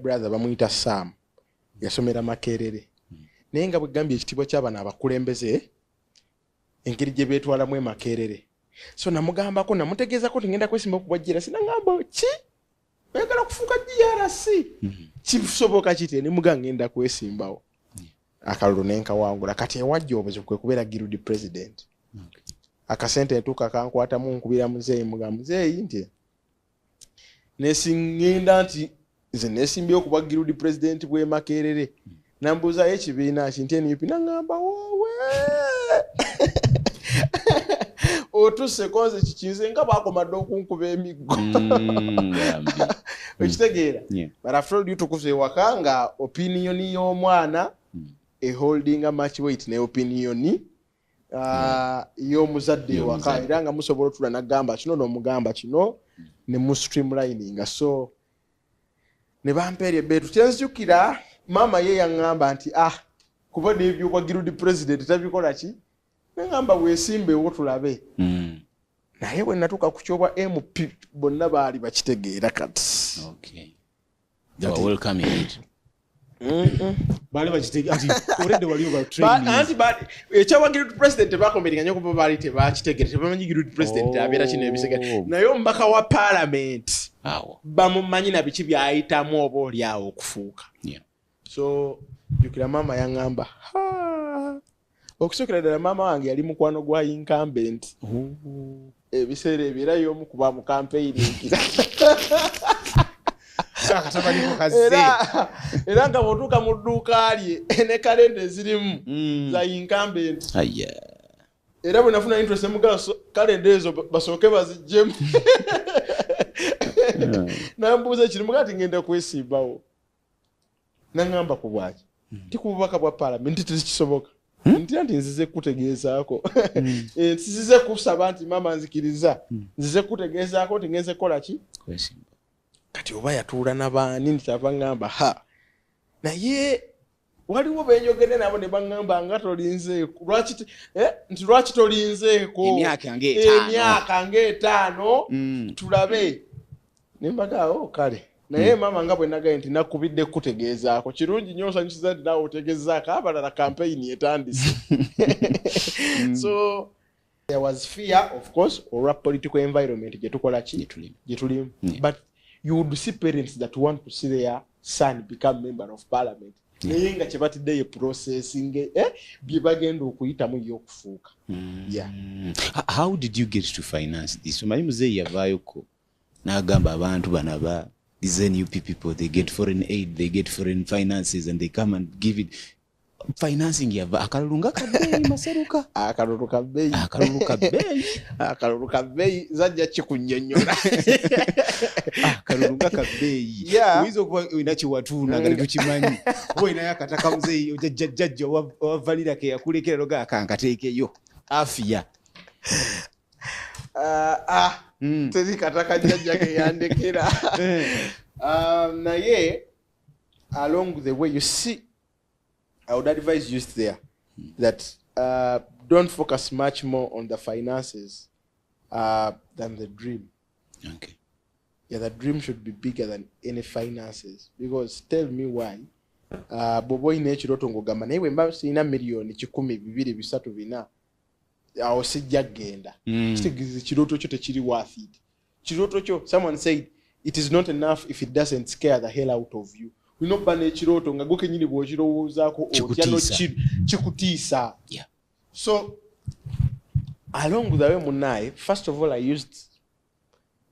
brother bamuyita sam yasomera makerere hmm. naye nga bwegambye ekitiibwa kyabano abakulembeze engeri gye beetwalamu emakerere so namugambako namutegeezako ti ngenda kwesimba okubwa grc nagamba ki oyagala okufuuka grc hmm. kisoboka kiti nimuga ngenda kwesimbawo hmm. akalulu nenkawangula kati ewajja obuzibu kwe kubeera girud president akasente ntuuka kankwatamu nkubira muzeeyi muga muzeeyi nti nesingenda nti nze nesimbyewo kuba girudi pulezidenti bw'e makerere nambuuzayo ekibiina ki nti nup naŋamba woowe otuse konze kikinze nga bakomadde okunkuba emiggo mm, okitegeera but after all tukuza ewaka nga opiniyoni y'omwana mm. eholdinga much weight ne opiniyoni ah, y'omuzadde ewaka era nga musobola otula nagamba kino nomugamba kino ne mu streamlininga so ne bampeera ebeetu kyenzijukira maama ye yaŋŋamba nti ah kuba nebyobwa girudi president tabikola ki neŋamba wesimbewo tulabe hmm. naye bwe natuuka ku kyobwa mp bonna baali bakitegeera kati They were welcoming it. baali bakitega nti already wali oba training anti ba- ekyawagira ut president tebakomberinga nyo kuba baali tebakitegere tebamanyi ut president Oh. abeera kino ebisega naye omubaka wa parliament Awo. bamumanyi na biki byayitamu oba oli awo okufuuka Yeah. so jukira maama yaŋamba okusokera ddala maama wange yali mukwano gwa incumbent ebiseera ebyo era yomu kuba mukampeyininkira era nga bwotuuka mu dduuka lye ne kalenda ezirimu mm. za incumbent era bwe nafuna interest emugala kalenda ezo basooke bazijjemu nambuuza ekiri mugaa ti ngenda kwesimbawo naŋamba ku bwaki hmm. nti ku bubaka bwa palamenti tekisoboka hmm? ntira nti nzize kukutegeezaako hmm. eh, nzize kusaba nti maama nzikiriza nzize kukutegeezaako nti ngenze kukola ki kati oba yatuula nabaani nti kyava ŋamba ha naye waliwo benyogede nabo nebaŋamba nga tolinzeeko lwaki eh, nti lwaki tolinzeeko emyaka ngaetaano tulabe nembadde awo oh, kale naye hmm. maama nga bwe nagaye nti nakubidde kukutegeezaako kirungi nyo osanyusiza nti naawe otegezaako abalala kampeyini etandise hmm. so there was fear of course olwa political environment gyetukola ki gyetulimu hmm. but you would see parents that want to see their son become member of parliament naye nga kyebatidde ye processing eh, bye bagenda okuyitamu ye okufuuka how did you get to finance this omanyi muzeeyi yavaayoko nagamba abantu bana ba these nup people they get foreign aid they get foreign finances and they come and give it financing yava akalulu nga kabeeyi maseruka akalulu kabeeyi akalulu kabeeyi akalulu kabeeyi zajja kikunyonyola akalulu nga kabeeyi oyinza okuba olina kyewatuuna nga tetukimanyi oba olinayo akataka muzeeyi ojajjajjajja owavanira keyakulekera loga akankateekeyo afiya ah, ah mm. teri kataka jajja ke yandekera eh. ah, naye along the way you see i would advise you there that uh, don't focus much more on the finances uh, than the dream okay yeah, the dream should be bigger than any finances because tell me why uh, bobo ine ekiroto ngogamba naye bwemba sirina million kikumi bibiri bisatu bina awo sijja kugenda mm. kitegeeza ekirooto kyo tekiri worth it kirooto kyo someone said it is not enough if it doesn't scare the hell out of you olina okuba n'ekirooto nga gwe kenyini bw'okirowoozaako otya nokikutiisa so along the way munaye first of all i used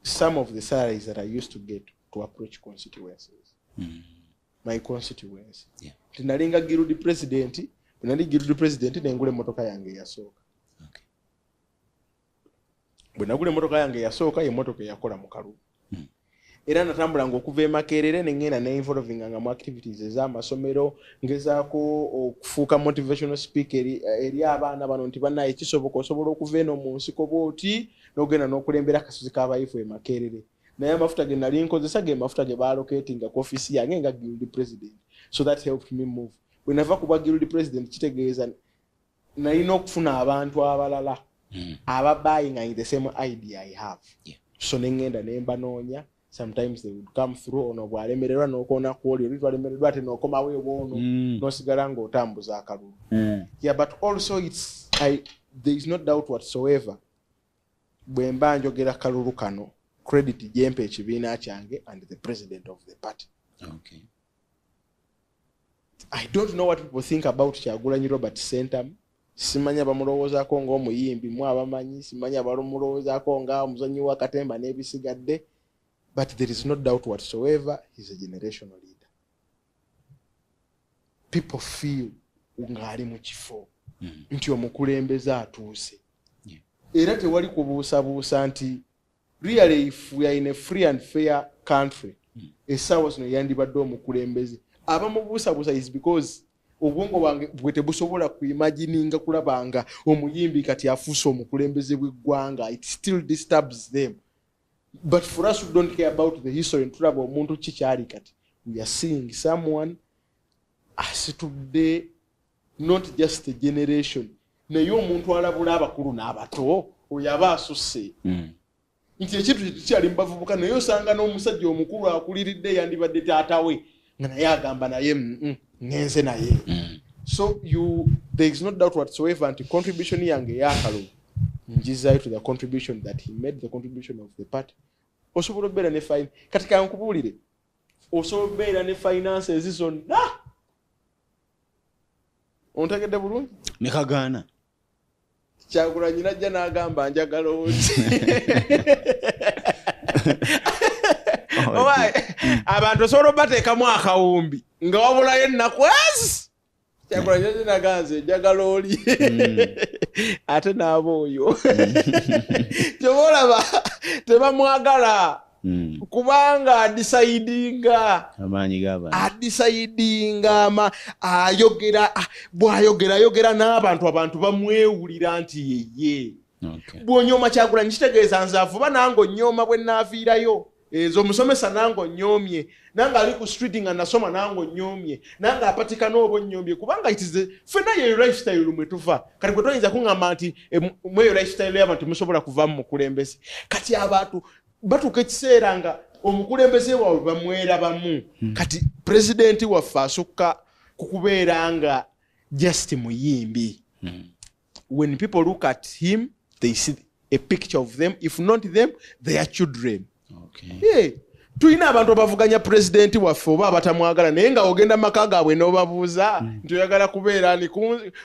some of the salaries that i used to get to approach constituencies mm. my constituency yeah. tinalinga guild president nali guild president nengula emotoka yange eyasooka okay. bwe nagula emotoka yange eyasooka yemotoka eyakola mu kalubu hmm. era natambulanga okuva emakerere nengenda neinvolvinga nga mu activities ezamasomero ngezaako okufuuka motivational speaker eri, eri abaana bano nti banaye kisoboka osobola okuva eno mu nsiko bwoti nogenda nokulembera akasuzi kabayifu emakerere naye amafuta ge nali nkozesa ge mafuta ge baaloketinga ku offiisi yange nga guild president so that helped me move bwe nava kuba guild president kitegeeza nalina okufuna abantu abalala hmm. aba buying in the same idea i have so ne ŋŋenda ne mbanoonya sometimes they would come through ono bwalemererwa nokoona kwoli oli twalemererwa ate nokomawo ebwono hmm. nosigala ngaotambuza akalulu hmm. yeah but also its I, there is no doubt whatsoever Bwe mba njogera kalulu kano credit gyempa ekibiina kyange and the president of the party. Okay. I don't know what people think about Kyagulanyi Robert Sentamu. Simanya bamulowozaako nga omuyimbi mu abamanyi, simanya balumulowozaako nga omuzanyi wa katemba n'ebisigadde. But there is no doubt whatsoever he's a generational leader. people feel ng'ali mu kifo mm. nti omukulembeze atuuse era tewali kubuusabuusa nti really if we are in a free and fair country mm. esaawa zino yandibadde omukulembeze abamubuusabuusa is because obwongo bwange bwe tebusobola kuimagininga kulabanga omuyimbi kati afuuse omukulembeze bw'eggwanga it still disturbs them but for us who don't care about the history ntulaba omuntu ki kyali kati we are seeing someone asitudde not just a generation naye omuntu alabula abakulu n'abato oyo aba asusse mm. nti ekintu kyetukyali mubavubuka naye osanga n'omusajja omukulu akuliridde yandibadde taata we nga naye agamba naye mm, mm, ngenze naye mm. so you there is no doubt whatsoever nti contribution yange eyakalo njizayo to the contribution that he made the contribution of the party osobola obeera ne fine kati kankubuulire osobola obeera ne finances zonna ontegedde bulungi nekagaana kyagulanyi najja n'agamba njagala oti abantu osobola obateekamu akawumbi nga wabulayo ennaku ezi kyagulanyi najja naganze njagala oli mm. ate naaba oyo kyoba olaba tebamwagala Hmm. kubanga adisayidinga amaanyi gabantu adisayidinga ama ayogera ah, bwayogera ayogera n'abantu abantu bamwewulira nti yeye bwonyooma kyagulanyi kitegeeza nze avuba nange onyooma bwe naaviirayo ezo omusomesa nange onyoomye nange ali ku street nga nasoma nange onyoomye nange apatika nooba onyoomye kubanga itize fena yeyo lifestyle mwe tuva kati gwe toyinza kuŋamba nti eh, mweyo lifestyle yabantu musobola kuvamu mukulembeze kati abantu batuuka ekiseera nga omukulembeze waabwe bamwerabamu hmm. kati pulezidenti waffe asukka ku kubeera nga just muyimbi hmm. when people look at him they see a picture of them if not them they are children tulina abantu abavuganya pulezidenti waffe oba abatamwagala naye nga ogenda maka gaabwe nobabuuza hmm. nti oyagala kubeera ni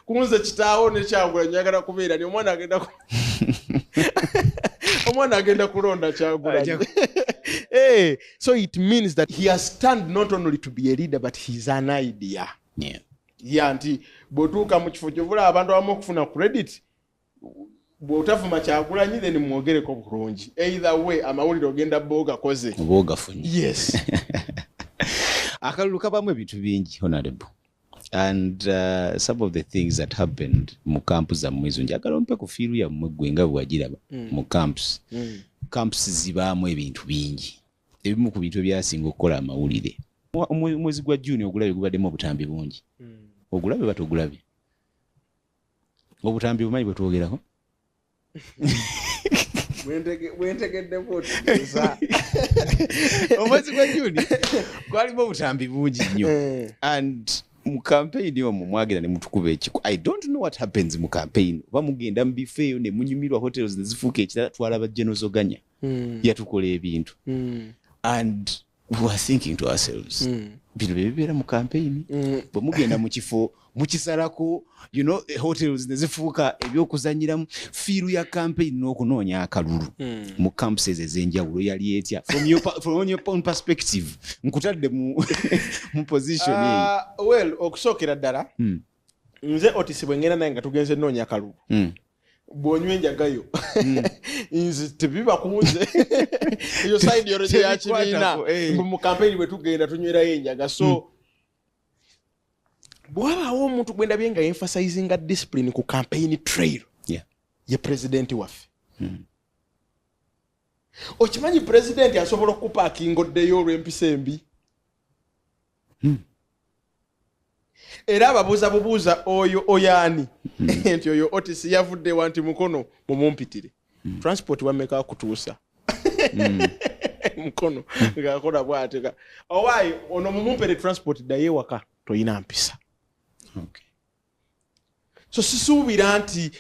kunze kitaawo nekyagula nyagala kubeera ni omwana agenda omwana agenda kulonda kyagulanyi eh, so it means that he has stand not only to be a leader but he is an idea yeah. ya nti bwotuuka mu kifo kyovula abantu abamu okufuna credit bwotavuma kyagulanyi then mwogereko bulungi either way amawulire ogenda boogakoze yes akalulu kabamu ebintu bingi honorable and uh, some of the things that happened mu camp zammwe ezo njagala ompe ku fiiru yammwe ggwe nga bwewagiraba mm. mu camps mm. camps zibaamu ebintu bingi ebimu ku bintu ebyasinga okukola amawulire omwezi gwa juni ogulabe gubaddemu obutambi bungi mm. ogulabe batogulabe obutambi bumanyi bwetwogerako bwentegeddeko otegeeza omwezi gwa juni gwalimu obutambi bungi nnyo eh. and mu kampeyini omwo mwagenda nemutukuba ekiko i don't know what happens mu kampeyini oba mugenda mu bifo eyo nemunyumirwa hotels nezifuuka ekirala twalaba genozoganya hmm. yatukola ebintu hmm. and hmm. bino byebibeera mu kampeyini hmm. bwe mugenda mu kifo mukisalako you know, eh, hotels nezifuuka ebyokuzanyiramu fiiru ya kampeyini n'okunoonya akalulu hmm. mu campuses ezenjawulo yali etya from your, from your own perspective nkutadde mu, mu position uh, well okusookera ddala hmm. nze otisi bwe ŋŋenda naye nga tugenze nnoonya kalu hmm. bw'onywa enjagayo hmm. nze tebiba kunze eyo saidi yorojo ya kibiina eh. mbu mu kampeyini bwe tugenda tunywerayo enjaga so hmm. bwabaawo omuntu gwe ndabye nga emphasizinga discipline ku kampeyini trail ye pulezidenti waffe okimanyi pulezidenti asobola okukupa akingoddeyo olw'empisa embi hmm. era ababuuza bubuuza oyo oyaani hmm. nti oyo otis yavudde wa nti mukono mumumpitire hmm. transport wameka kutuusa mukono ngakola bwateka owaayi ono mumumpere transport ddayo ewaka toyina mpisa so sisuubira nti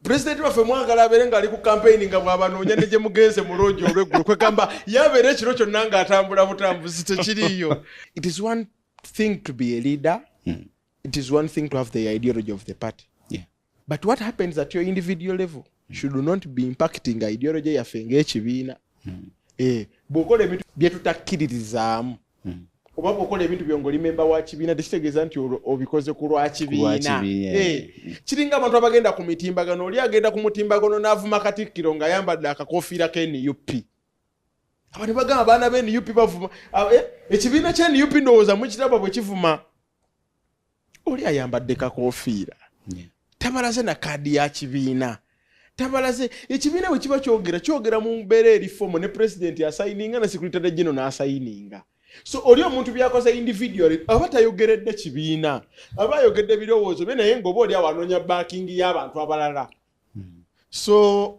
pulezidenti waffe mwagala abeere ng'ali ku kampeyini nga bwabanoonya ne gye mugenze mu loogi olweggulo kwegamba yabeera ekiro kyonna ng'atambula butambuzi tekiriiyo it is one thing to be a leader hmm. it is one thing to have the ideology of the party yeah. but what happens at your individual level hmm. should not be impacting ideology yaffe ng'ekibiina hmm. eh, bw'okola ebintu bye tutakkiririzaamu hmm. oba bwokola ebintu byo ngaoli memba wa kibiina tekitegeeza nti obikoze ku lwa kibiina eh. Eh. kiringa abantu abagenda ku mitimbagano oli agenda ku mutimbagano n'avuma katikkiro ng'ayambadde akakofiira ka nup abantu bagamba abaana ba nup bavuma ah, eh, ekibiina kya nup ndowooza mukiraba bwe kivuma oli ayambadde kakofiira tabalaze na kaadi ya kibiina tabalaze ekibiina bwe kiba kyogera kyogera mu mbeera eri fomu ne pulezidenti asayininga ne sekuritade gino n'asayininga so oli omuntu byakoze individual aba tayogeredde kibiina aba ayogedde ebirowoozo bye naye ngaoba oli awo anoonya backing y'abantu abalala hmm. so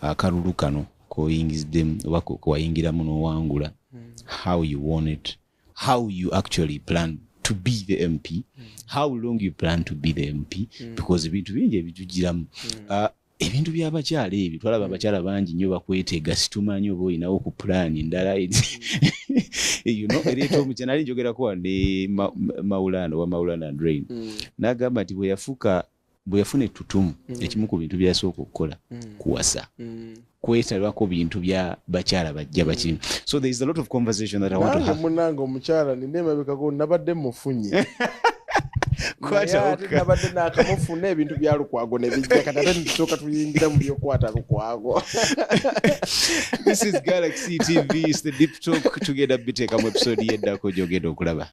akalulu kano koyingiziddemu oba kewayingiramu nowangula hmm. how you want it how you actually plan to be the mp hmm. how long you plan to be the mp hmm. because ebintu bingi ebitugiramu ah, ebintu byabakyala ebyo twalaba abakyala bangi nyo bakwetega situmanyi oba olinawo ku pulaani endala ereeta omukyala nali njogerako ne maulana oba maulana drain nagamba nti bweyafuuka bwe yafuna ettutumu mm. ekimu ku bintu byeyasooka okukola mm. kuwasa mm. kwetalako bintu bya bakyala bajja bakimu so there is a lot of conversation that I want to have munange omukyala nina emabekako nabadde mufunye nabadde nakamufuna ebintu bya lukwago nebijja kati ate nitusoka tuyingira mu byokwata lukwago this is galaxy tv is the deep talk tugenda biteekamu episode yeddako gyogenda okulaba